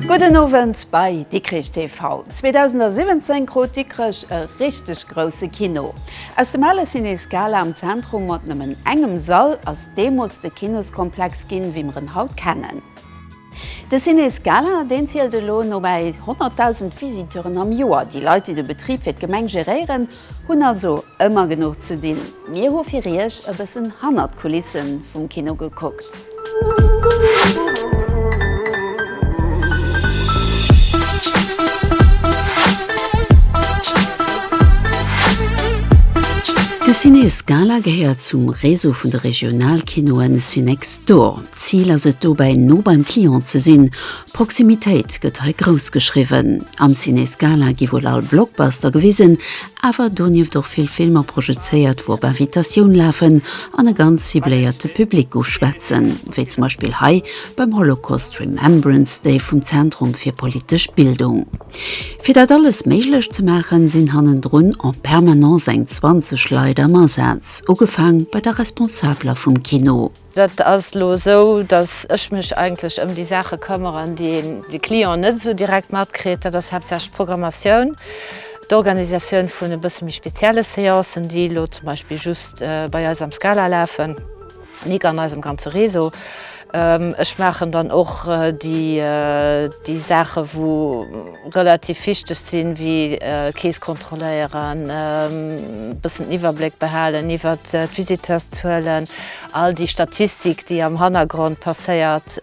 Gudden Owend bei Dikrich TV. 2017 krut Dikrech e richteg grousse Kino. Aus dem ale Ciné Scala am Zentrum mat nëmmen engem Sall ass deemools de Kinoskomplex ginn, wéi mer en haut kennen. De Ciné Scala, deen zielt elo no bäi 100.000 Visiteuren am Joer. Déi Leit, déi de Betrib fir d'Gemeng geréieren, hunn also ëmmer genuch ze dinn. Mir hu fir Iech e bëssen hannert d'Kulisse vum Kino gekuckt. De Ciné Scala gehéiert zum Réseau vun de Regionalkinoe Cinextor. Zil ass et dobäi no beim Client ze sinn, Proximitéit gëtt hei grouss geschriwwen. Am Ciné Scala gi wuel all Blockbuster gewisen, awer donieft och vill Filmer projezéiert wou op Invitatioun lafen an e ganz cibléierte Public uschwätzen, wéi zum Beispill hei beim Holocaust Remembrance Day vum Zentrum fir politesch Bildung. Fir dat alles méiglech ze maachen, sinn hannendrun en permanence eng 20 Leit am Asaz, ugefaang bei der Responsabler vum Kino. Dat ass elo esou, datt ech mech eigentlech ëm déi Saache këmmeren, déi een, de Client net esou direkt matkritt. Dat ass haaptsächlech d'Programmatioun, d'Organisatioun vun e bësse méi spezielle Seancen, déi elo zum Beispill just bei eis am Scala lafen, nik an eisem ganze Réseau. Ech maachen dann och déi, déi Saache wou relativ wichteg sinn, ewéi Keess kontrolléieren, e bëssen den Iwwerbléck behalen iwwert d'Visiteurszuelen, All déi Statistik, déi am Hannergrond passéiert,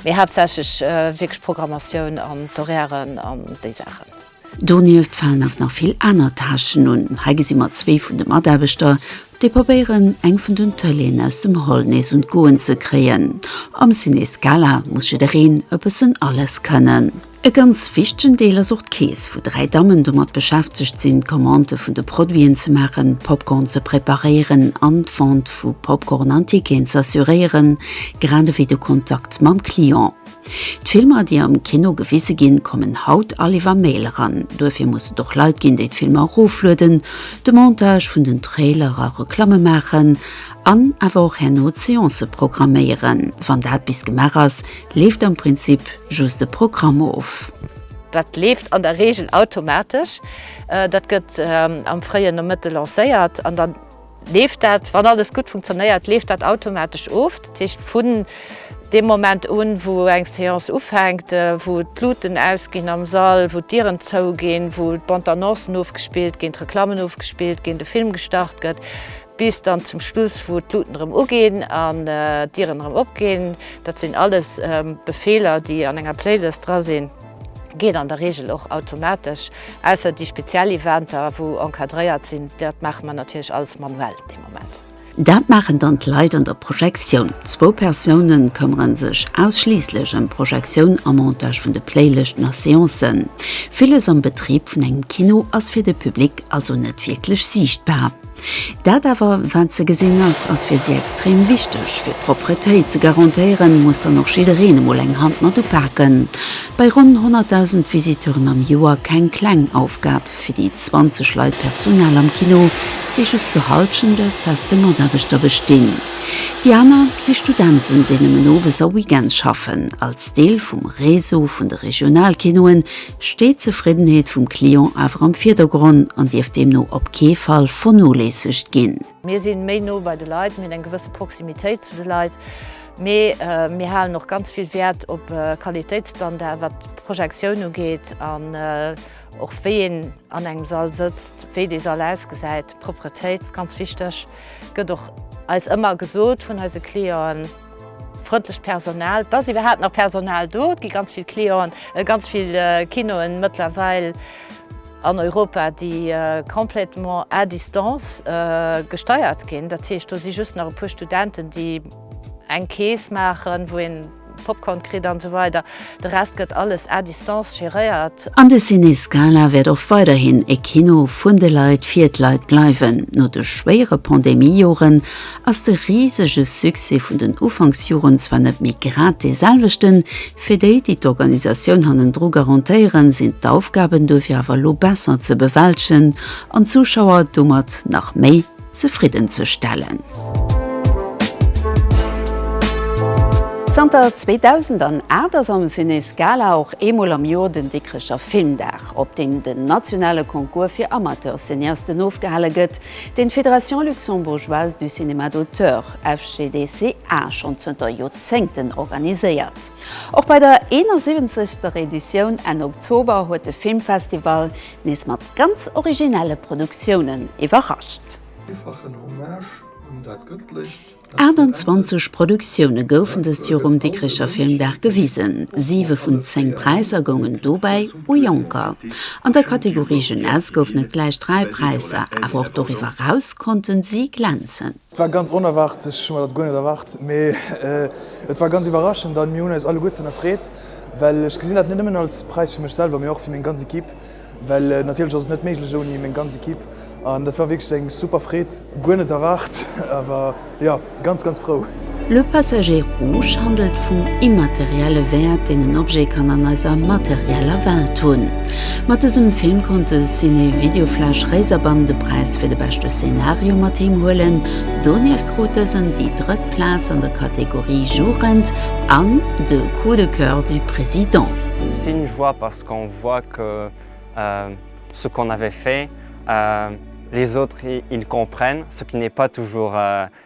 mee haaptsächlech wierklech d'Programmatioun an d'Horairen an déi Saachen. Donieft falen awer nach vill aner Tâchen un. Hei gesi mer zwee vun de Mataarbechter, déi probéieren, eng vun den Tëleeën aus dem Hall nees un d'Goen ze kréien. Am Ciné Scala muss jiddereen e bëssen alles kënnen. E ganz wichtegen Deel ass och d'Keess, wou dräi Dammen domat beschäftegt sinn, d'Commandë vun de Produiten ze maachen, Popcorn ze preparéieren an d'Vente vu Popcorn an Ticketen z'assuréieren, grad ewéi de Kontakt mam Client. D'Filmer, déi am Kino gewise ginn, kommen haut all iwwer Mail eran. Duerfir muss et och Leit ginn, déi d'Filmer eroflueden, de Montage vun den Trailer a Reklamme maachen an awer och herno d'Seancë programméieren, wann dat bis gemaach ass. leeft am Prinzip just e Programm of. Dat leeft an der Reegel automatesch. Dat gëtt am fréien Nomëtte lancéiert an dann leeft dat, wann alles gutt funktionéiert, leeft dat automatesch of. Dat heescht, vun deem Moment un, wou eng Séance ufänkt, wou d'Luuten ausginn am Sall, wou d'Dieren zouginn, wou d'Bande-annoncen ofgespillt ginn, d'Reklammen ofgespillt ginn, de Film gestart gëtt, Bis dann zum Schluss, wou d'Luuten erëm uginn an d'Dieren erëm opginn. Dat sinn alles Befeeler, déi an enger Playlist dra sinn. Geet an der Reegel och automatesch, ausser déi speziell Eventer, wou encadréiert sinn. Dat maache mer natierlech alles manuell dee Moment. Dat maachen dann d'Leit an der Projektioun. Zwou Persoune këmmere sech ausschliisslech ëm d'Projektioun a Montage vun de Playlëschten a Seancen. Villes am Betrib vun engem Kino ass fir de Public also net wierklech siichtbar. Dat awer, wat ze gesinn ass, ass fir si extrem wichteg. Fir d'Propretéit ze garantéieren, muss dann och jiddereen emol eng Hand mat upaken. Bei ronn 100.000 Visiteuren am Joer keng kleng Aufgab fir déi 20 Leit Personal am Kino, déi just zu Halschent aus feste Mataarbechter bestinn. Déi aner si Studenten, déi nëmmen owes a Weekends schaffen. Als Deel vum Réseau vun de Regionalkinoen steet d'Zefriddenheet vum Client awer am Virdergronn an dierf deemno op kee Fall vernoléissegt ginn. Mir sinn méi no bei de Leit, mir hunn eng gewësse Proximitéit zu de Leit, mee mir halen och ganz vill Wäert op Qualitéitsstandarden, wat d'Projektioun ugeet an och wéi een an engem Sall sëtzt, wéi dee Sall ausgesäit. D'Propretéit, ganz wichteg, gëtt och eis ëmmer gesot vun eise Clienten. Frëndlecht Personal, et ass iwwerhaapt nach Personal do, et gi ganz vill Clienten, ganz vill Kinoen mëttlerweil an Europa, déi complètement à distance gesteiert ginn. Dat heescht, do si just nach e puer Studenten, déi eng Kees maachen, wou ee Popcorn kritt an esou weider. De Rest gëtt alles à distance geréiert. An de Ciné Scala wäert och weiderhin e Kino vun de Leit fir d'Leit bleiwen. No de schwéiere Pandemie-Joren ass de risege Succès vun den Ufanksjoren zwar net méi grad dee selwechten. Fir déi, déi d'Organisatioun hannendru garantéieren, sinn d'Aufgaben duerfir awer elo besser ze bewältegen an d'Zuschauer domat nach méi. zefridden ze stellen. Zanter 2008 ass am Ciné Scala och eemol am Joer den Dikrecher Filmdag, op deem den nationale Concours fir Amateur-Cineasten ofgehale gëtt, deen d'Fédération luxembourgeoise du cinéma d'auteur, FCDCA, schonn zënter Joerzéngten organiséiert. Och bei der 71. Editioun Enn Oktober huet de Filmfestival nees mat ganz originelle Produktiounen iwwerrascht. 28 Produktioune goufen dëst Joer um Dikricher Filmdag gewisen. Siwe vun zéng Präisser goungen dobäi u Jonker. An der Kategorie Jeunesse goufen et gläich dräi Präisser, awer och doriwwer eraus konnte si glänzen. Et war ganz onerwaart, ech hu mer dat guer net erwaart, mee et war ganz iwwerraschend an mir hunn eis alleguerten erfreet, well ech gesinn dat net nëmmen als Präis fir mech selwer, mee och fir meng ganz Ekipp, well natierlech ass et net méiglech ouni meng ganz Ekipp an dat war wierklech eng super Freed, guer net erwaart, awer jo ganz ganz frou. Le Passager Rouge handelt vum immaterielle Wäert, deen en Objet kann an eiser materieller Welt hunn. Mat dësem Film konnt de Ciné Videoflash Réiserbann de Präis fir de beschte Szenario mat heem huelen. Donieft krut dësen déi drëtt Plaz an der Kategorie Jugend an de Coup de coeur du président. Si ne voit parce qu'on voit que ce qu'on avait fait, les autres ils comprennent, ce qui n'est pas toujours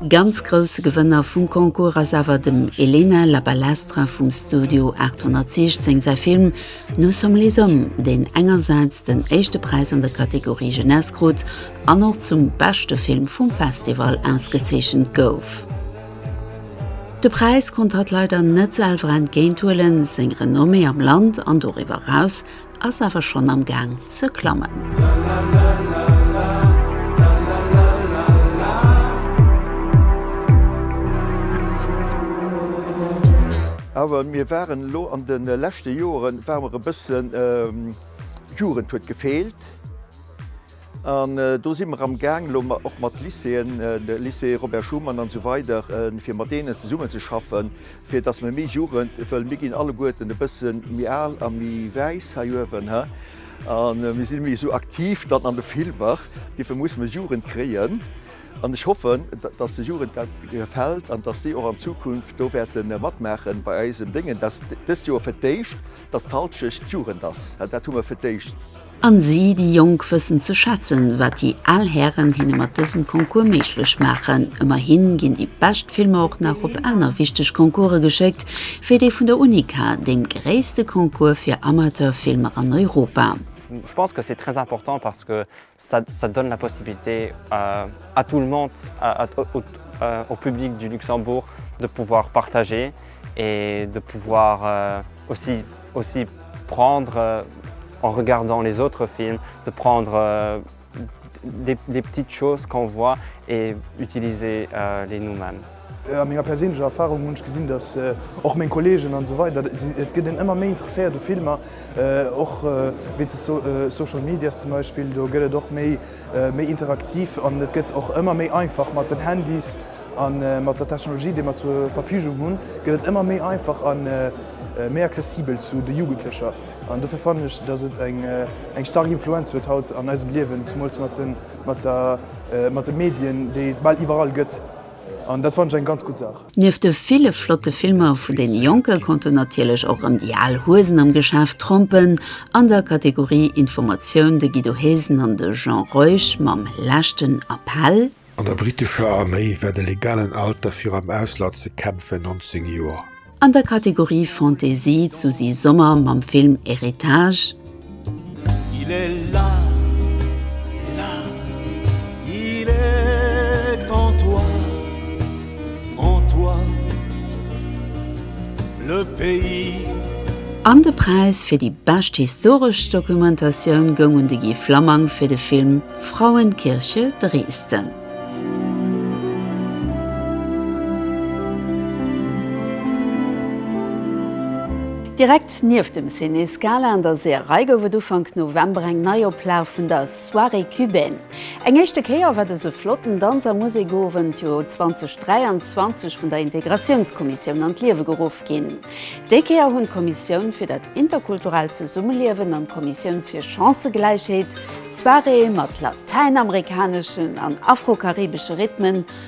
Ganz grousse Gewënner vum Concours ass awer dem Elena La Balestra vum Studio 816 säi Film Nous sommes les hommes, deen engersäits den éischte Präis an der Kategorie Jeunesse krut an och zum beschte Film vum Festival ausgezeechent gouf. De Präis konnt hatt leider net selwer entgéinthuelen, seng Renommée am Land an doriwwer eraus ass awer schonn am Gaang ze klammen. Awer mir waren elo an de leschte Joeren, ware mer e bësse, Jugend huet gefeelt. An do si mer am Gaang elo och mat Lycéeën, Lycée Robert Schuman an esou weider, fir mat deenen zesummen ze schaffen, fir datt mer méi Jugend, well mir ginn alleguerten e bësse méi al a méi wäiss hei uewen, hä, a mir si méi esou aktiv dann an de Filmer, dofir muss mer Jugend kréien. An ech hoffen, datt der Jugend dat gefält an datt si och an Zukunft do wäerte matmaachen bei eisem Déngen. Dat ass dëst Joer fir d'éischt, datt d'Halschecht Jugend ass, dat hu mer fir d'éischt. An si, déi Jonk, wëssen ze schätzen, wat déi al Hären hinne mat dësem Concours méiglech maachen. Ëmmerhin ginn déi bescht Filmer och nach op aner wichteg Concourse geschéckt, wéi dee vun der UNICA, deem gréisste Concours fir Amateurfilmer an Europa. Je pense que c'est très important parce que ça donne la possibilité à tout le monde, au public du Luxembourg de pouvoir partager et de pouvoir, Aussi, aussi prendre en regardant les autres films, de prendre des, des petites choses qu'on voit et utiliser les nous-mêmes. A menger perséinlecher Erfahrung hunn ech gesinn, dass och meng Kollegen an esou weider, et gëtt een ëmmer méi interesséiert u Filmer, och wéinst de Social Medias zum Beispill, do gëtt et och méi, méi interaktiv an et gëtt och ëmmer méi einfach mat den Handys a mat der Technologie, déi mer zur Verfügung hunn, gëtt et ëmmer méi einfach a méi accessibel zu de Jugendlecher. An dofir fannen ech, datt et eng staark Influenz huet haut an eisem Liewen, zemools mat de Medien, déi et bal iwwerall gëtt. An dat fannen ech eng ganz gutt Saach. Nieft de ville flotte Filmer vun deene Jonke konnten natierlech och rëm déi al Huesen am Geschäft trompen. An der Kategorie Informatioun de Guido Hesen an de Jean Reusch mam leschten Appell. An der brittescher Arméi war de legalen Alter fir am Ausland ze kämpfen 19 Joer. An der Kategorie Fantaisie d'Susi Sommer mam Film Héritage. Il est là, là, il est en toi, en toi, le pays. An de Präis fir déi bescht historesch Dokumentatioun goung un de Guy Flammang fir de Film Frauenkirche Dresden. Direkt Nieft dem Ciné Scala an der Seeërei gouf et Ufank November eng Neioplag vun der Soirée Cubaine. Eng éischte Kéier war dëse flotten Danz a Musekowend jo 2023 vun der Integratiounskommissioun an d'Liewe geruff ginn. Déi Kéier hunn d'Kommissioun fir dat interkulturellt Zesummeliewen an d'Kommissioun fir Chancëgläichheet d'Soirée mat latäinamerikaneschen an afro-karibesche Rhythmen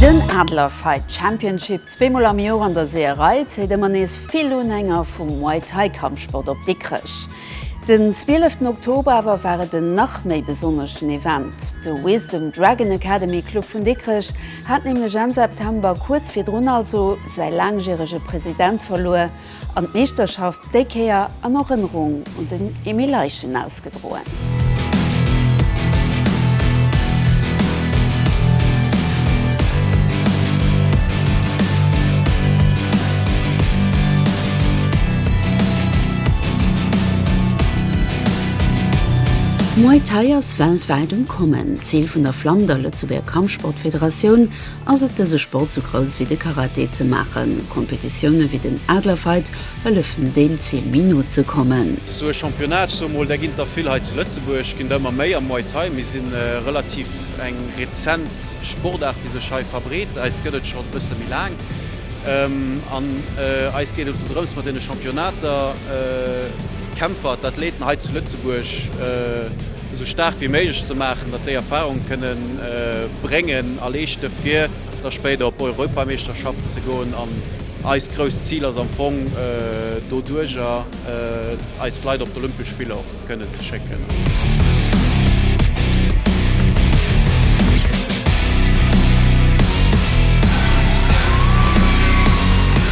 Den Adler Fight Championship, zweemol am Joer an der Seeërei, zéit ëmmer nees vill Unhänger vum Muay Thai Kampfsport op Dikrech. Den 12 Oktober awer war et en nach méi besonneschen Event, de Wisdom Dragon Academy Club vun Dikrech hat nämlech Enn September, kuerz virdrun also, säi laangjärege President verluer an d'Meeschterschaft déi Kéier an Erënnerung un den Emile Leichen ausgedroen. Muay Thai ass weltwäit um Kommen. D'Zil vun der Flamm, der Lëtzebuerger Kampfsport, Laut d'Federatioun ass et dëse Sport sou grouss wéi de Karate ze maachen. Kompetitioune wéi den Adlerfight hëllefen deem Zil méi no ze kommen. Sou e Championnat, ech soe mol, där ginn der vill hei zu Lëtzebuerg, ginn der ëmmer méi am Muay Thai. Mir si relativ eng rezent Sportaart déi sech hei verbreet. Eis gëtt et schonn e bësse méi laang an eis geet et drëms mat deene Championnater d'Kämpfer, d'Athléten hei zu Lëtzebuerg, esou staark wéi méiglech ze maachen, datt déi Erfahrung kënne bréngen a leeschte fir da spéider op Europameeschterschaften ze goen. An eist grousst Zil ass am Fong doduerjer eis Leit op d'Olympesch Spiller och kënnen ze schécken.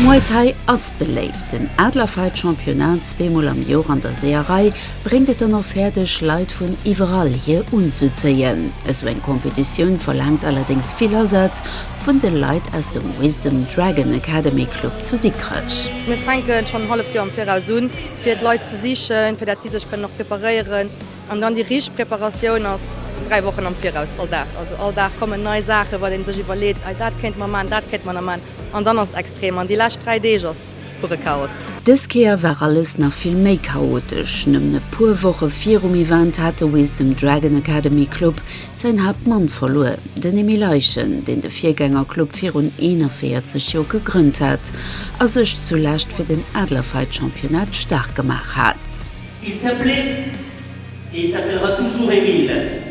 Muay Thai ass beléift. Den Adlerfight Championnat zweemol am Joer an der Seeërei bréngt et dann och fäerdeg, Leit vun iwwerall hier unzuzéien. Esou eng Competitioun verlaangt allerdéngs vill Asaz vun de Leit aus dem Wisdom Dragon Academy Club zu Dikrech. Mir fänken schonn en halleft Joer am Viraus un, fir d'Leit ze sichen, fir dat si sech kënnen och preparéieren. An dann déi richteg Preparatioun ass dräi Wochen am Viraus, all Dag. Also all Dag kommen nei Saachen, wat ee sech iwwerleet, Ei, dat kéinte mer man, dat kéinte mer nach man. An dann ass et extrem. An déi lescht dräi Deeg ass. pure Chaos. Dës Kéier war alles nach vill méi chaotesch. Nëmmen e puer Woche virum Event hat de Wiss dem Dragon Academy Club säin Haaptmann verluer, den Emile Eichen, deen de Virgängerclub virun 41 Joer gegrënnt hat a sech zu Lescht fir den Adlerfight-Championnat staark gemaach hat. Il s'appelait et il s'appellera toujours Emile.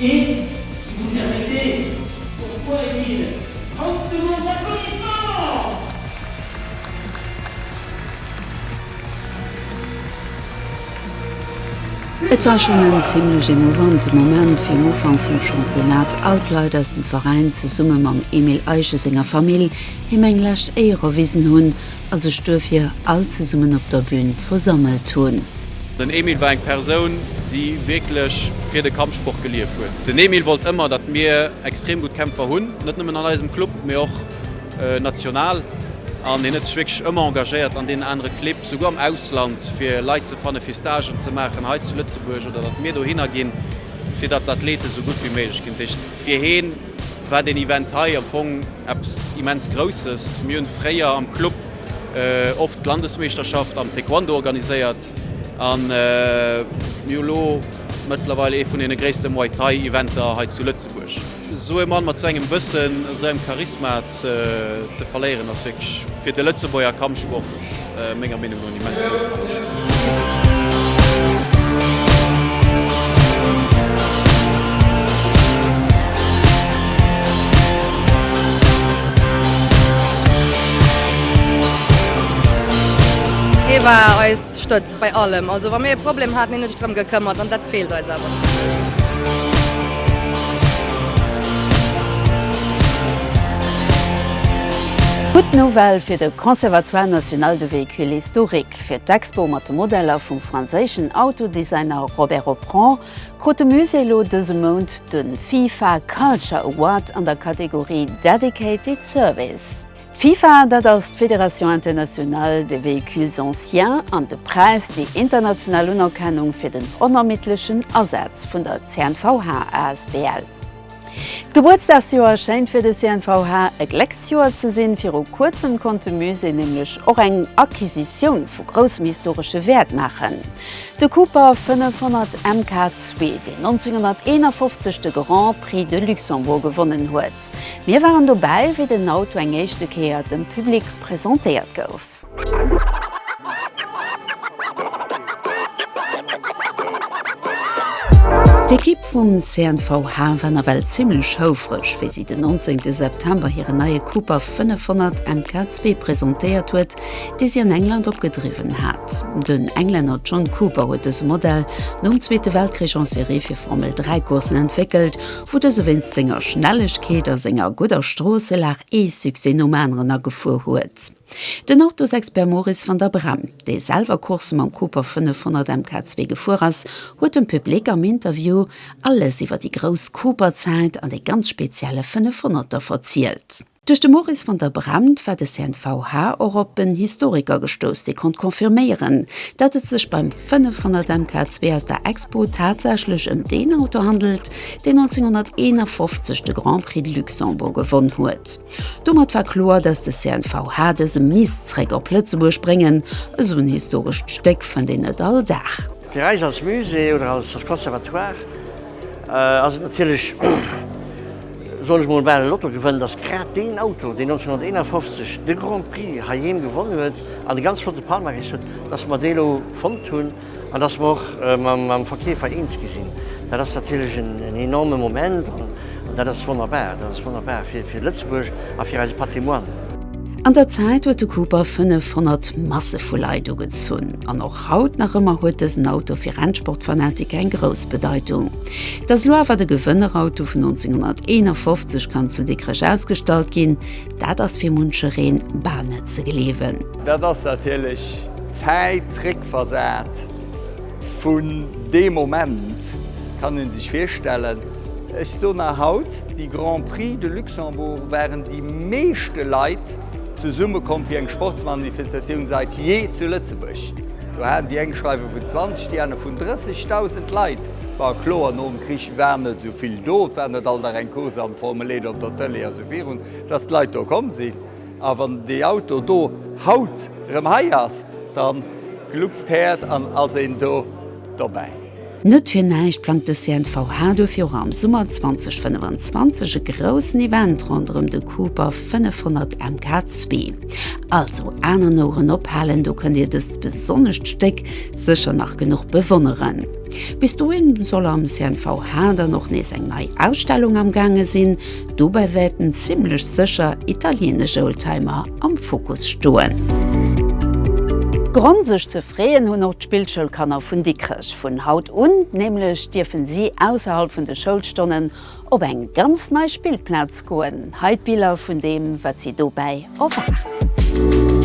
Et, si vous permettez, pourquoi est il Haut de vos applaudissements? Et war schonn en zimlech emouvante Moment fir den Ufank vum Championnat. All d'Leit aus dem Veräin, zesumme mam Emile Eiche senger Famill, him eng lescht Éier erwisen hunn. a sech duerfir all zesummen op der Bühn versammelt hunn. Den Emil war eng Persoun, déi wierklech fir de Kampfsport gelieft huet. Den Emil wollt ëmmer, datt mir extrem gutt Kämpfer hunn, net nëmmen an eisem Club, mee och national. An hien huet sech wierklech ëmmer engagéiert an deenen anere Clibb, souguer am Ausland, fir Leit ze fannen, fir Stagen ze maachen hei zu Lëtzebuerg oder datt mir dohinner ginn, fir datt d'Athleten esou gutt wéi méiglech ginn. Dat heescht, fir hien. war deen Event hei am Fong eppes immens Grousses. Mir hunn fréier am Club oft d'Landesmeeschterschaft am Taekwondo organiséiert an mir hu lo mëttlerweil ee vun deene gréisste Muay Thai Eventer hei zu Lëtzebuerg. Esou ee Mann mat esou engem Wëssen, esou engem Charisma ze verléieren ass wierklech fir de Lëtzebuerger Kampfsport menger Meenung no en immens grousse Tâche. Hie war eis Stëtz. Bei allem. Also wa mir e Problem haten, hunn ech drëm gekëmmert an dat feelt eis awer zum Deel. Gutt Nouvelle fir de Conservatoire National de Véhicules Historiques. Fir d'Expo mat de Modeller vum franséischen Autodesigner Robert Opron krut de Musée elo dëse Mount de FIFA Culture Award an der Kategorie Dedicated Service. D'FIFA, dat ass d'Fédération internationale des véhicules anciens, an de Präis, déi international Unerkennung fir den onermiddlechen Asaz vun der CNVH asbl. D'Gebuertsdagsjoer schéint fir de CNVH e Glécksjoer ze sinn. Viru kuerzem konnt de Musée nämlech och eng Acquisitioun vu groussem historesche Wäert maachen, de Cooper 500 MK2, deen 1951 de Grand Prix de Luxembourg gewonnen huet. Stad. Mir waren dobäi, wéi den Auto eng éischte Kéier dem Public presentéiert gouf. D'Ekipp vum CNVH war nawell zimmlech houfreg, wéi si den 19 September hiren neie Cooper 500 MK2 presentéiert huet, dee si an England opgedriwwen hat. Den Englänner John Cooper huet dëse Modell nom Zweete Weltkrich en Serie fir Formel-3-Coursen entwéckelt wou dëse wéinst senger Schnellegkeet a senger gudder Stroosselag ee Succès nom aneren agefuer huet. Den Autosexpert Maurice van der Breghem, dee selwer Coursë mam Cooper 500 MK2 gefuer ass, huet dem Public am Interview alles iwwer déi grouss Cooper-Zäit an dee ganz spezielle 500er verzielt. Duerch de Maurice van der Bremt war de CNVH och op en Historiker gestouss, dee konnt confirméieren, dat et sech beim 500 MK 2 aus der Expo tatsächlech ëm deen Auto handelt, deen 1951 de Grand Prix de Luxembourg gewonn huet. Domat war kloer, datt de CNVH dëse misst zréck op Lëtzebuerg bréngen, esou en historescht Stéck fënnt een net all Dag. Fir eis als Musée oder als Conservatoire Ass et natierlech, soll ech mol bal e Lotto gewënnen, dass grad deen Auto, deen 1951 de Grand Prix heiheem gewonnen huet an e ganz flotte Palmarès huet, dass mer dee elo fonnt hunn an dass mer och mam Verkeefer eens gi sinn. Dat ass natierlech en enorme Moment an dat ass wonnerbar. Dat ass wonnerbar fir Lëtzebuerg a fir eise Patrimoine. An der Zäit huet de Cooper 500 Masse vu Leit ugezunn an och Haut nach ëmmer huet dësen Auto fir Rennsportfanatiker eng grouss Bedeitung. Datt elo awer de Gewënnerauto vun 1951 kann zu Dikrech ausgestallt ginn, dat ass fir munchereen bal net ze gleewen. Dat ass natierlech d'Zäit zréckversat vun deem Moment, kann ee sech virstellen. Ech soen nach haut, déi Grand Prix de Luxembourg waren déi meeschte Leit, Zesummekomm fir eng Sportsmanifestatioun seit jee zu Lëtzebuerg. Do haten déi eng schreiwe vun 20, déi aner vun 30.000 Leit. War kloer, nom Krich war net esou vill do. Et war net all Dag eng Course am Formel-Éide op der Tëlee a sou virun, dass d'Leit do komm sinn. A wann dee Auto do haut rëm hei ass, da gluckst d'Häert an ass een do dobäi. Net fir näischt plangt de CNVH duerfir och am Summer 2025 e groussen Event ronderëm de Cooper 500 MK2. Also Aen an Oueren ophalen, do kënnt Dir dëst besonnescht Stéck sécher nach genuch bewonneren. Bis dohin soll am CNVH dann och nees eng nei Ausstellung am gaange sinn. Dobäi wäerten zimmlech sécher italieenesch Oldtimer am Fokus stoen. Grond sech ze freeën hunn och D'Spillschoulkanner vun Dikrech, vun haut un nämlech, dierfen si ausserhalb vun de Schoulstonnen op eng ganz nei Spillplaz goen. Hei d'Biller vun deem wat si dobäi erwaart.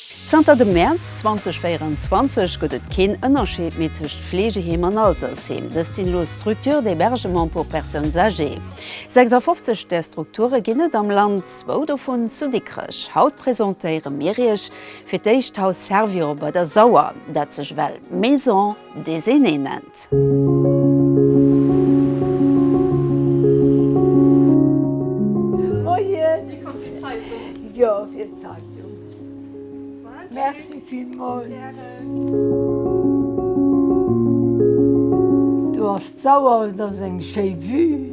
Zanter dem Mäerz 2024 gëtt et keen Ënnerscheed méi tëscht Fleegeheem an Altersheem. Dëst sinn elo Structures d'hébergement pour personnes âgées. 56 där Strukture ginn et am Land, zwou dovun zu Dikrech. Haut presentéiere mir Iech fir d'éischt d'Haus Servior bei der Sauer, dat sech ewell Maison des Aînés nennt. Do ass d'Sauer, et ass eng schéi Vue.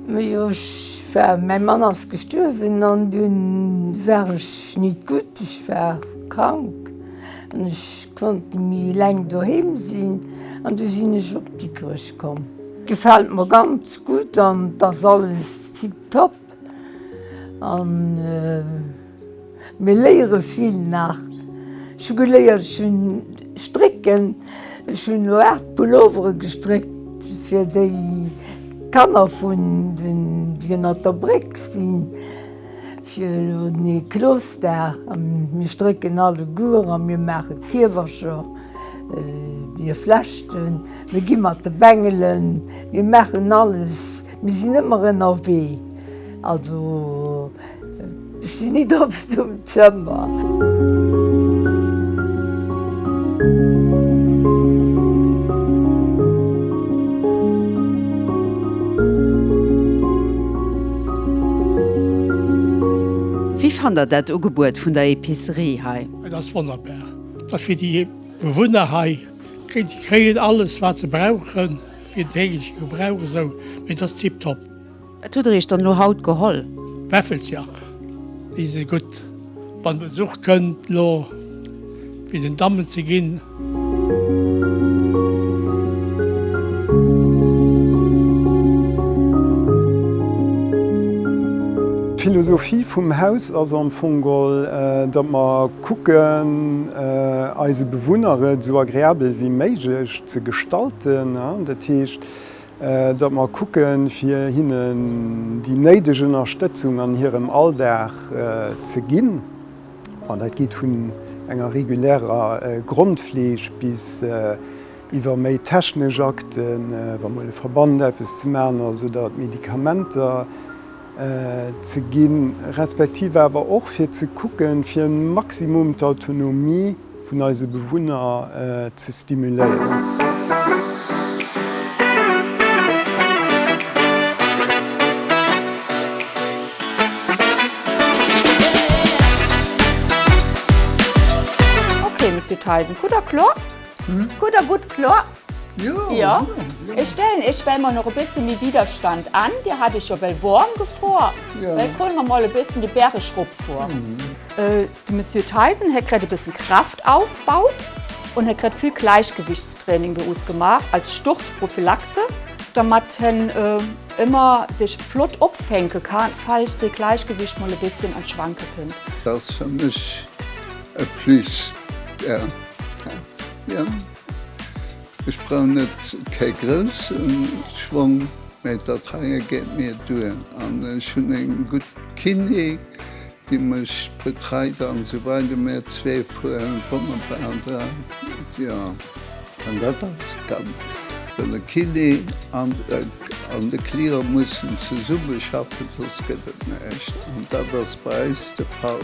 Mee jo ech war, mäi Mann ass gestuerwen an dunn war ech nit gutt, ech war krank an ech. Konnten mi leng doheem sinn an du sinn ech op Dikrech komm. Gefällt mer ganz gudd an et ass alles tiptop an mir léieren vill nach. Ech hu geléiert, ech hun strécken, ech hun elo 8 Pulloveren gestréckt fir déi Kanner vun den déi ënnert der Bréck sinn. Fir elo den Niklosdag, an mir strécken alleguer a mir maache Kiewercher, mir flechten, mir gi mat de Bengelen, mir maachen alles, mir sinn ëmmer ënnerwee. Also ech sinn nit oft um Zëmm. Wéi fannt der dat Ugebuet vun der Epicerie hei? Et ass wonnerbar. Et ass fir déi Bewunner hei. Déi kréien alles wat se brauchen fir den tägleche Gebrauch esou. Et ass tiptop. Wat hutt der iech dann elo haut geholl? Wäffeljach, déi si gutt, wann Besuch kënnt, elo fir den Dammen ze ginn. D'Philosophie vum Haus ass am Fong gol, datt mer kucken, eise Bewunner et esou agreabel wéi méiglech ze gestalten. Dat heescht, datt mer kucken, fir hinnen déi néideg Ënnerstëtzung an hirem Alldag ze ginn, dat geet vun enger regulärer Grondfleeg bis iwwer méi technesch Akten, wa mol e Verband eppes ze maachen ass oder et Medikamenter ze ginn, respektiv awer och fir ze kucken, fir e Maximum d'Autonomie, vun eise Bewunner ze stimuléieren. Ok Monsieur Theisen, gutt a kloer. Gutt a gutt kloer. Jo. Ech stellen Iech well mol nach e bësse méi Widerstand an. Dir hat Iech jo well warm gefuer. Well kommen mer mol e bëssen de Bäreg rop fueren. De Monsieur Theisen huet grad e bëssen Kraftaufbau un huet grad vill Gleichgewichtstraining bei us gemaach als Sturzprophylaxe, dermat hien ëmmer sech flott opfänke kann, falls säi Gleichgewicht mol e bësschen an d'Schwanke kënnt. Dat ass fir mech e Plus, ja. Jo, ech brauch net kee grousse Schwong, mä dat heie geet mir duer. An ech hunn e gutt Kiné, Déi mech betreit an esou weider. Mär zwee fueren wonnerbar dran, jo. An dat ass ganz. Well de Kiné an de Client mussen zesumme schaffen, soss gëtt et näischt. An dat ass bei eis de Fall.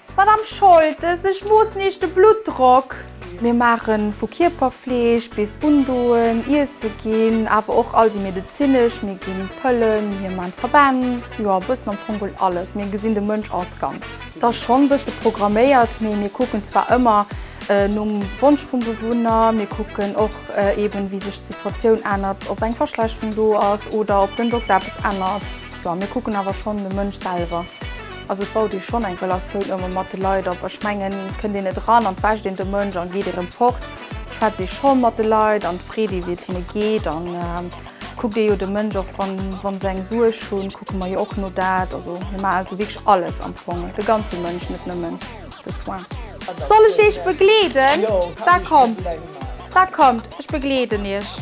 Madame Scholtes, ech moossen Iech de Bluttdrock. Mir maachen vu Kierperfleeg bis Undoen, Iesse ginn, awer och all déi medezinesch, mir ginn Pëllen, mir maachen Verbänn, jo a bëssen am Fong wuel alles. Mir gesinn de Mënsch als Ganz. Et ass schonn bësse programméiert, mee mir kucken zwar ëmmer nom Wonsch vum Bewunner, mir kucken och eben wéi sech d'Situatioun ännert, ob eng Verschlechterung do ass oder ob den Dokter eppes ännert. Bon, mir kucken awer schonn de Mënsch selwer. Also et baut ee schonn eng Relatioun ëmmer mat de Leit op. Ech mengen, kënnt een net eran an d'wäscht een de Mënsch an geet erëm fort, schwätzt ee schonn mat de Leit an freet ee wéi et hinne geet an kuckt ee jo de Mënsch och. Wann wann se eng Suerg hunn, kucke mer jo och no dat. Also mir maachen also wierklech alles am Fong, de ganze Mënsch, net nëmmen de Soin. Soll ech Iech begleeden? Da kommt, da kommt, ech begleeden Iech.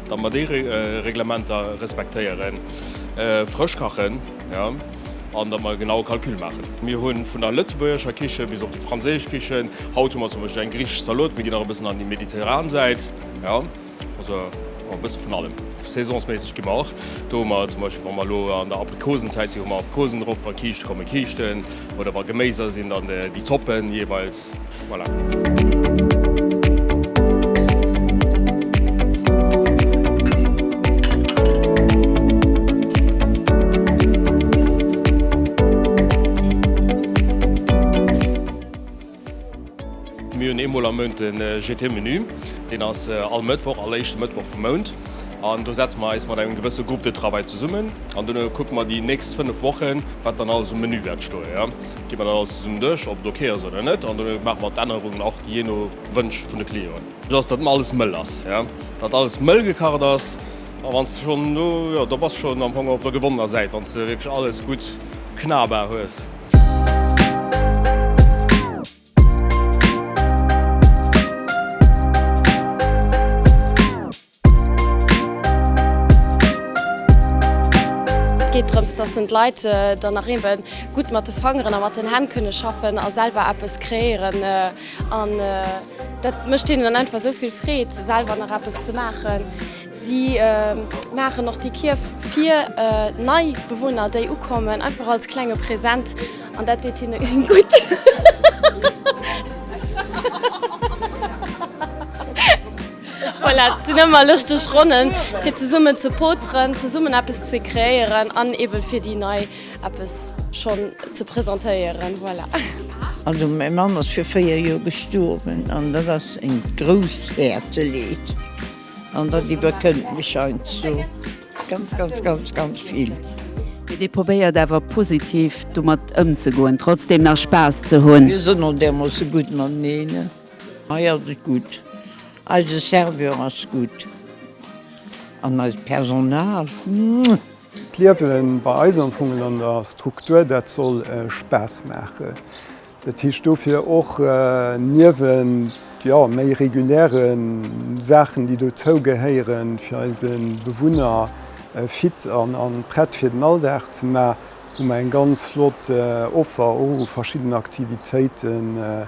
Datt mer déi Reglementer respektéieren, frësch kachen, jo, an datt mer e genaue Calcul maachen. Mir hu vun der lëtzebuergescher Kiche bis op déi franséisch Kichen, haut hu mer zum Beispill eng griichesch Zalot, mir ginn nach e bëssen an déi mediterran Säit, jo, also e bësse vun allem. Saisonsméisseg gi mer och, do hu mer zum Beispill, wa mer elo an der Aprikosenzäit sinn, hu mer Aprikosen drop, wa Kiischte kommen, Kiischten, oder wa Geméiser sinn, dann déi Zoppen jeeweils. Mir hunn eemol am Mount de GT-Menü. Deen ass all Mëttwoch, all éischte Mëttwoch vum Mount. An do setze mer eis mat engem gewësse Groupe de travail zesummen an dono kucke mer déi nächst fënnef Wochen, wat dann alles um Menü wäert stoen. Gi mer dat alles zesummen duerch, ob et ok ass oder net, an dono maache mer d'Ännerungen och jee no Wënsch vun de Clienten. Wichtig ass, datt alles mëll ass, datt alles mëll gekacht ass. A wann s de schonn do, jo, do bass de schonn am Fong op der gewonnener Säit, wann s de wierklech alles gutt knabar hues. Et geet drëms, dass en d'Leit dann nach eebe gutt mat de Fangeren a mat den Hänn kënne schaffen a selwer eppes kreéieren. An dat mécht hinnen dann einfach esou vill Freed, selwer nach eppes ze maachen. Si maachen och déi Kierf fir nei Bewunner, déi ukommen, einfach als klenge Present. An dat deet hinne gutt. Voilà, et sinn ëmmer lëschteg Ronnen, fir zesummen ze poteren, zesummen eppes ze kreéieren an eben fir déi nei eppes schonn ze presentéieren. Voilà. Also mäi Mann ass fir 4 Joer gestuerwen an dat ass eng grouss Häerzeleed an dat iwwerkënnt mech heiansdo ganz ganz ganz ganz vill. Mee dir probéiert awer positiv domat ëmzegoen, trotzdem nach Spaass ze hunn? Mir sinn och därmoosse gutt mateneen. Hei ass et gutt, eise Serveur ass gutt an eist Personal, muah! D'Liewe bei eis am Fong an der Struktur, dat soll Spaass maachen. Dat heescht dofir och, niewent jo méi reguläre Saachen, déi dozou gehéieren, fir eise Bewunner fit a prett fir den Alldag ze maachen, hu mer eng ganz flott Offer u verschiddenen Aktivitéiten.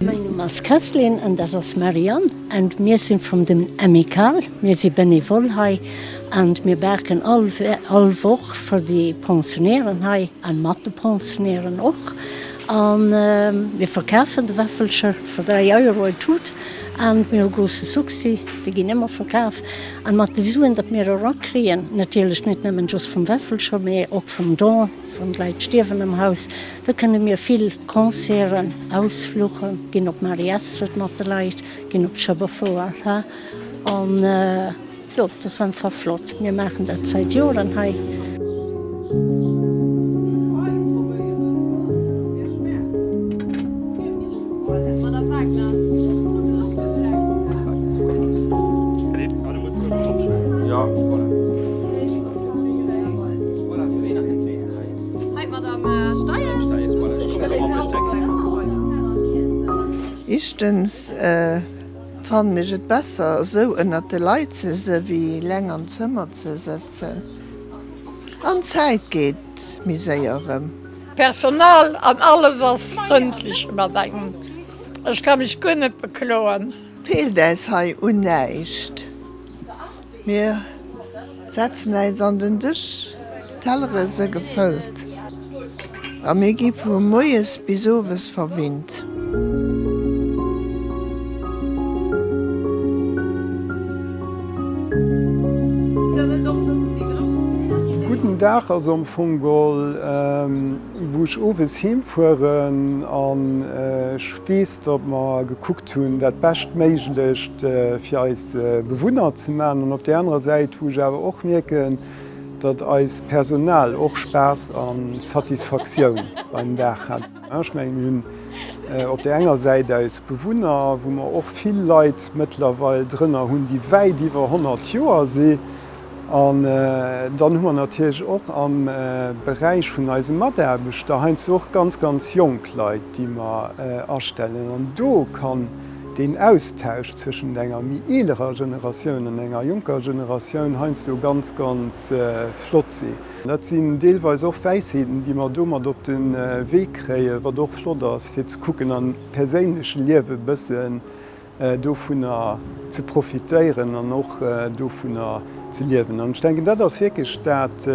Mein Numm ass Kesslin an dat ass Marianne an mir sinn vum dem Amical. Mir si benevole hei an mir baken all all Woch fir déi Pensionären hei an mat de Pensionären och an mir verkafen de Wäffelcher fir 3 Euro e Tut an mir hu grousse Succès. Déi ginn ëmmer verkaf an mat de Suen, dat mir erakriegen natierlech net nëmmen just vum Wäffelcher, mee och vum Don, Wann d'Leit stierwen am Haus, da kënne mir vill Concerten, Ausfluche ginn, op Mari Astrid mat de Leit ginn, op Schueberfouer ha an jo dat ass einfach flott. Mir maachen dat zäit Joren hei. Ichtens fannen ech et besser esou ënnert de Leit ze se wéi leng am Zëmmer ze sëtzen an d'Zäit geet méi séier rëm. D'Personal an alles ass frëndlech mat engem, ech ka mech guer net bekloen. Feelt äis hei un näischt. Mir setzen äis an den Dësch, d'Tellere se gefëllt a mir gi vu moies bis owes verwinnt. Gudden Dag ass am Fong gol wou ech owes heem fueren an ech weess datt mer gekuckt. Hunn, dat Beschtméiglecht fir eis Bewunner ze maachen. An op där anerer Säit, wou ech awer och mierken, datt eist Personal och Spaass a Satisfaktioun beim Dag hat. Ech mengen, mir hunn op där enger Säit eis Bewunner, wou mer och vill Leit mëttlerweil drënner hunn, déi wäit iwwer 100 Joer si An dann hu mer natierlech och am Beräich vun eise Mataarbechter heiansdo och ganz, ganz jonk Leit, déi mer astellen. An do kann deen Austausch zwëschent enger méi eelerer Generatioun an enger jonker Generatioun heiansdo ganz, ganz flott sinn. Dat sinn deelweis och Wäisheeten, déi mer do mat op de Wee kréien, wat och flott ass, fir ze kucken am perséinleche Liewe e bësse dovunner ze profitéieren an och dovunner ze liewen. An ech denken, dat ass wierklech dat,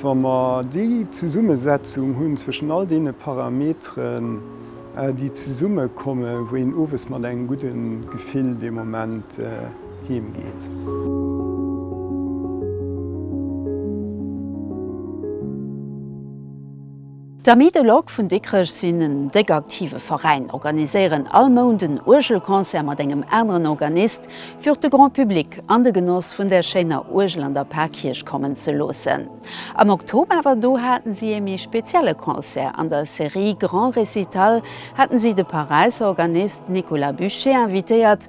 wa mer déi Zesummesetzung hunn zwëschen all deene Parameteren, déi zesummekomme wou een owes mat engem gudde Gefill dee Moment heem geet. D'Amis de l'Orgue vun Dikrech sinn en déck aktive Veräin, organiséieren all Mount en Uergelconcert mat engem aneren Organist, fir och de Grand Public an de Genoss vun där schéiner Uergel an der Parkierch kommen ze loossen. Am Oktober awer, do haten si ee méi spezielle Concert. An der Serie Grand Récital haten si de Paräisser Organist Nicolas Buchet invitéiert,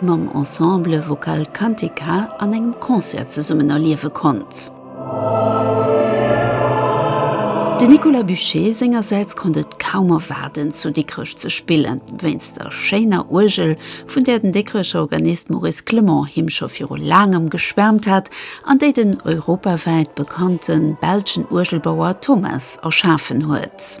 mam Ensemble Vocal Cantica an engem Concert zesummen erliewe konnt. De Nicolas Buché sengersäits konnt et kaum erwaarden, zu Dikrech ze spillen, wéinst der schéiner Uergel, vun där den Dikrecher Organist Maurice Clement him scho viru laangem geschwäermt hat an déi den europawäit bekannte belschen Uergelbauer Thomas erschafen huet.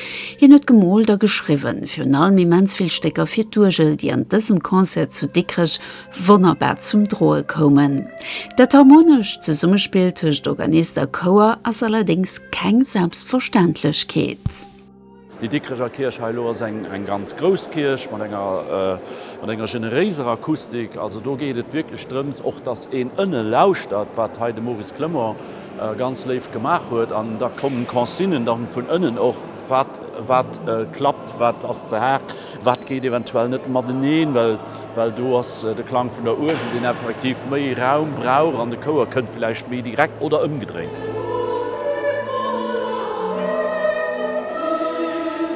Hien huet gemoolt a geschriwwen, virun allem immens vill Stécker fir d'Uergel, déi an dësem Concert zu Dikrech wonnerbar zum Droe koumen. Dat harmonescht Zesummespill tëscht Organist a Chouer ass allerdéngs keng Selbstverständlechkeet. Déi Dikrecher Kierch hei elo ass eng ganz grouss Kierch mat enger generéiser Akustik. Also do geet et wierklech drëms och, datt een ënne lauschtert, wat hei de Maurice Clement ganz léif gemaach huet an da kommen Consignen dann vun ënnen och wat wat klappt, wat ass ze haart, wat geet eventuell net mateneen, well well do ass de Klang vun der Uergel deen effektiv méi Raum brauch an de Chouer kënnt villäicht méi direkt oder ëmgedréint.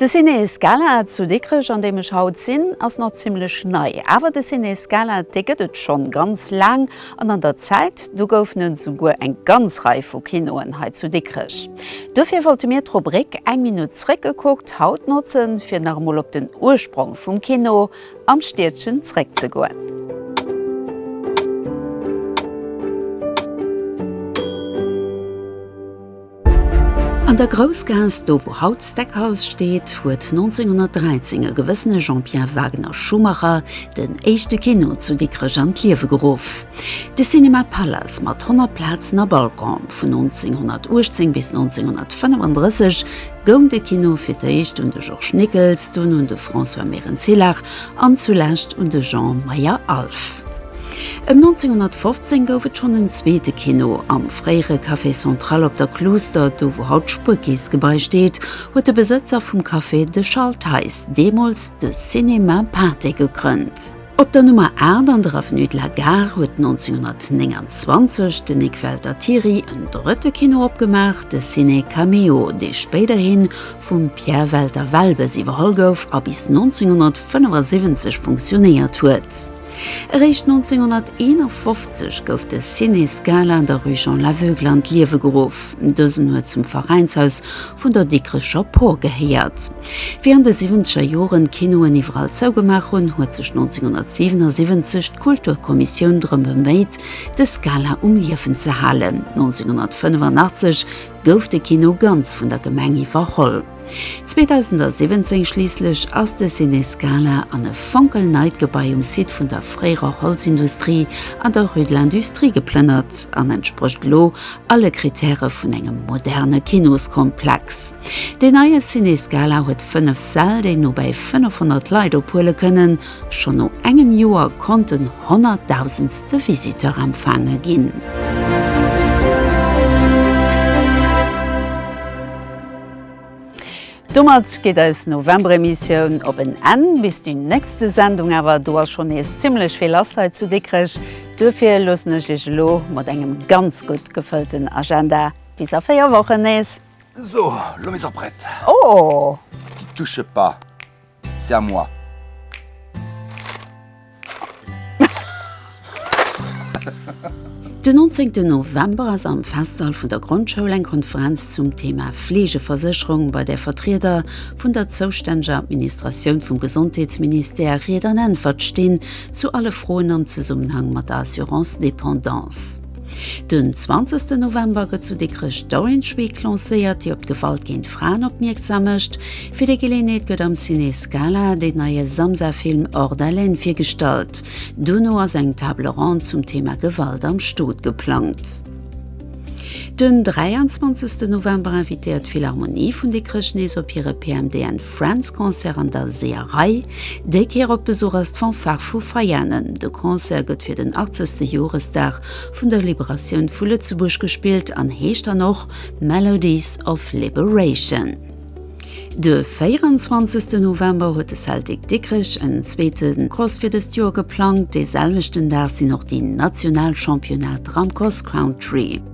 De Ciné Scala zu Dikrech, an deem ech haut sinn, ass nach zimmlech nei. Awer de Ciné Scala, dee gëtt et schonn ganz laang, an an der Zäit do goufen et esouguer eng ganz Rei vu Kinoen hei zu Dikrech. Duerfir wollte mir d'Rubrik Eng Minutt zréckgekuckt haut notzen, fir nach emol op den Ursprong vum Kino am Stiedchen zréckzegoen. An der Groussgaass, do wou haut d'Steakhouse steet, huet 1913 e gewëssene Jean-Pierre Wagner Schumacher den éischte Kino zu Dikrech an d'Liewe geruff. De Cinéma Palace mat 100 Plazen a Balcon. Vun 1918 bis 1935 goung de Kino fir d'éischt un de Georges Nickels, dunn un de François Mérens-Hillach an zulescht un de Jean Meyer-Alf. Ëm 1915 gouf et schonn en zweete Kino. Am fréiere Café Central op der Cluster, do wou haut d'Spuerkeessgebai steet, huet de Besëtzer vum Café, de Charles Theis, deemools de Cinéma Pâté gegrënnt. Op der Nummer 8 an der Avenue de la Gare huet 1929 de Nic Welter Thiry en drëtte Kino opgemaach, de Ciné Caméo, dee spéiderhi vum Pierre Welter-Welbes iwwerholl gouf a bis 1975 funktionéiert huet. Eréischt 1951 gouf de Ciné Scala an der Rue Jean l'Aveugle an d'Liewe geruff. Dësen huet zum Veräinshaus vun der Dikrecher Por gehéiert. Wéi an de siwwenzeger Joren d'Kinoen iwwerall zougemaach hunn, huet sech 1977 d'Kulturkommissioun drëm beméit, de Scala um Liewen ze halen. 1985 gouf de Kino ganz vun der Gemeng iwwerholl. 2017 schliisslech ass de Ciné Scala an e fonkelneit Gebai um Site vun der fréierer Holzindustrie an der Rue de l'Industrie geplënnert an entsprécht elo alle Krittäre vun engem moderne Kinoskomplex. Deen neie Ciné Scala huet 5 Säll, déi no bäi 500 Leit ophuele kënnen. Schonn no engem Joer konnt den honnertdausendste Visiteur empfaange ginn. Domat geet eis November-Emissioun op en Enn. Bis déi nächste Sendung awer, do ass schonn nees zimmlech vill lass hei zu Dikrech. Duerfir loossen ech Iech elo mat engem ganz gutt gefëllten Agenda bis a véier Wochen nees. Sou, lo mir se och prett. Oh! Déi Duschepa. C'est à moi. Den 19 November ass am Festsall vun der Grondschoul eng Konferenz zum Thema Fleegeversécherung, bei där Vertrieder vun der zoustänneger Administratioun vum Gesondheetsministère Ried an Äntwert stinn zu alle Froen am Zesummenhang mat der Assurance dépendance. Den 20 November gëtt zu Dikrech d'Orange Week lancéiert, déi op d'Gewalt géint Fraen opmierksam mécht. Fir déi Geleeënheet gëtt am Ciné Scala deen neie Samsa-Film Hors d'haleine virgestallt. Duerno ass eng Table ronde zum Thema Gewalt am Stot geplangt. Den 23 November invitéiert d'Philharmonie vun Dikrech nees op hire PMDN. Friends Concert an der Seeërei. Déi Kéier op Besuch ass d'Fanfare vu Veianen. De Concert gëtt fir den 80. Joresdag vun der Liberatioun vu Lëtzebuerg gespillt an heescht dann och Melodies of Liberation. De 24. November huet de Celtic Dikrech en zweete Cross fir dëst Joer geplangt. Dee selwechten Dag sinn och déi national Championnate Ramcross Country.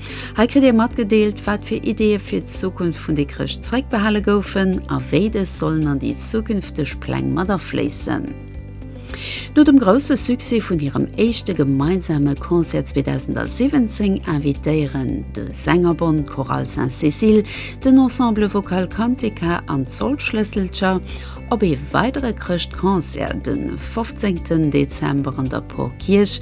Hei kritt Dir matgedeelt, wat fir Ideeë fir d'Zukunft vun Dikrech zréckbehale goufen a wéi dës sollen an déi zukünfteg Pläng mat afléissen. No dem grousse Succès vun hirem éischte gemeinsame Concert 2017 invitéieren de Sängerbond Chorale Sainte-Cécile, den Ensemble Vocal Cantica an d'Soldschlësselcher op ee weidere Chrëschtconcert de 15 Dezember an der Porkierch